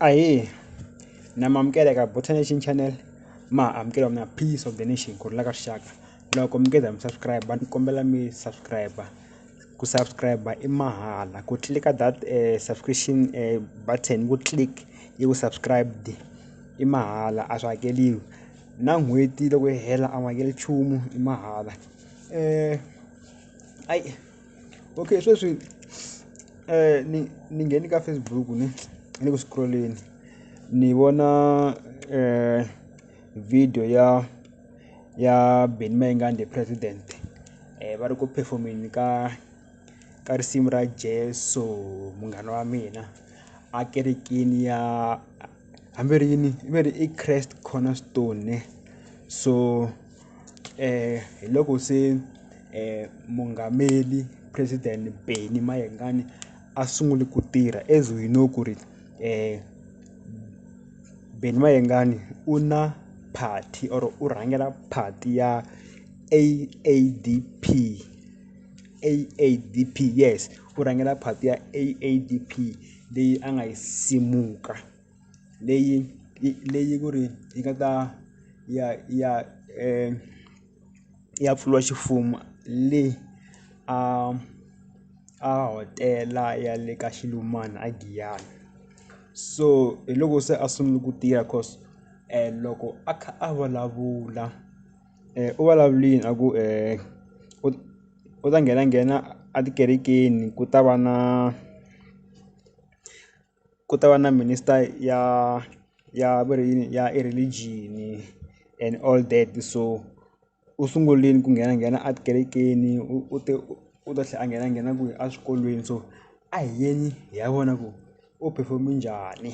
Ahee na mi amukela eka Buths Nation channel ma ha amukeriwa mina Peace of the Nation ku rhula ka rixaka loko mi ngeza mi subscribe ni kombela mi subscribe ku subscribe i mahala ku tlilika that subscription button ku click i ku subscribed i mahala a swi hakeriwi na n'hweti loko yi hela a wu hakeli nchumu i mahala . Okay sweswi ni ni nghene ka Facebook ni ni le ku scroll-eni ni vona video ya ya Benny Mayengani the president va ri ku perform-eni ka ka risimu ra Jeso munghana wa mina a kerekeni ya hambi ri yini va ri i Christ Cornerstone ne so. hi loko se mungameli president Benny Mayengani a sungule ku tirha as we know ku ri Benny Mayengani u na party or u rhangela party ya A_A_D_P A_A_D_P yes u rhangela party ya A_A_D_P leyi a nga yi simuka. leyi yi leyi ku ri yi nga ta ya ya ya pfuriwa ximfumo le a a hotela ya le ka Xilumani a Giyani so hi loko se a sungula ku tirha cause loko a kha a vulavula u vulavulile a ku u u ta nghenanghena a tikerekeni ku ta va na. ku ta va na minister ya ya va ri yini ya i religion-i and all that so u sungulini ku nghenanghena a tikerekeni u u te u ta tlhe a nghenanghena kwihi a swikolweni so a hi yeni hi ya vona ku u perform-e njhani.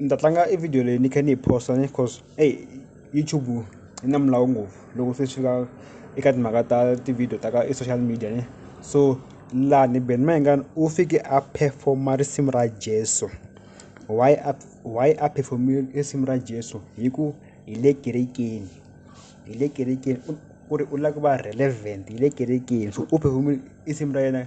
ni ta tlanga e video leyi ni kha ni yi post-a ni coz eyi YouTube yi na milawu ngopfu loko se swi fika eka timhaka ta ti-video ta ka e social media ne so laha ni Ben Mayengani u fike a perform-a risimu ra Jeso why a why a perform-e risimu ra Jeso hi ku hi le kerekeni hi le kerekeni u ri u lava ku va relevant hi le kerekeni so u perform-e risimu ra yena.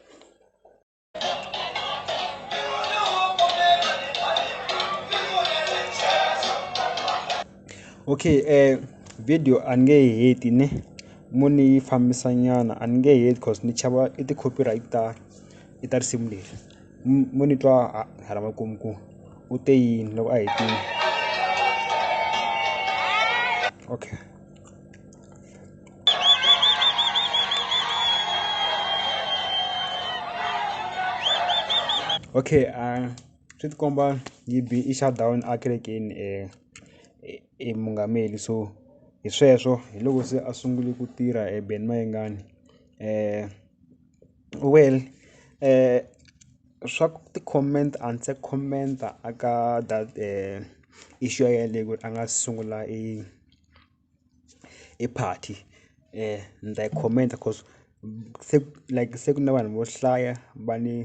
okay eh video a ni nge yi heti ne mo ni yi fambisa nyana a ni nge heti cause ni chava i ti-copyright ta i ta risimu leri mo ni twa hala makumu ku u te yini loko a hetini okay. okay uh swi ti komba yi be i shut down a kerekeni um i mungameli so hi sweswo hi loko se a sungule ku tirha e Ben Mayengani um well um swa ku ti-comment a ni se comment-a a ka that issue yaleyo ku ri a nga sungula i. i party um ndza yi khomenda coz se like se ku na vanhu vo hlaya va ni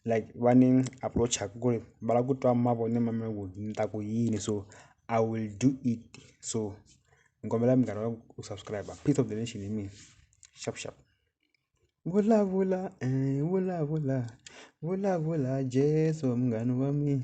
like va ni approach-aka ku ri va lava ku twa mavonelo ma mina ku ni ta ku yini so I will do it so ni kombela munghana wa ku subscribe-a Piece Of The Nation hi mina xap xap vulavula vulavula vulavula Jeso munghana wa mina.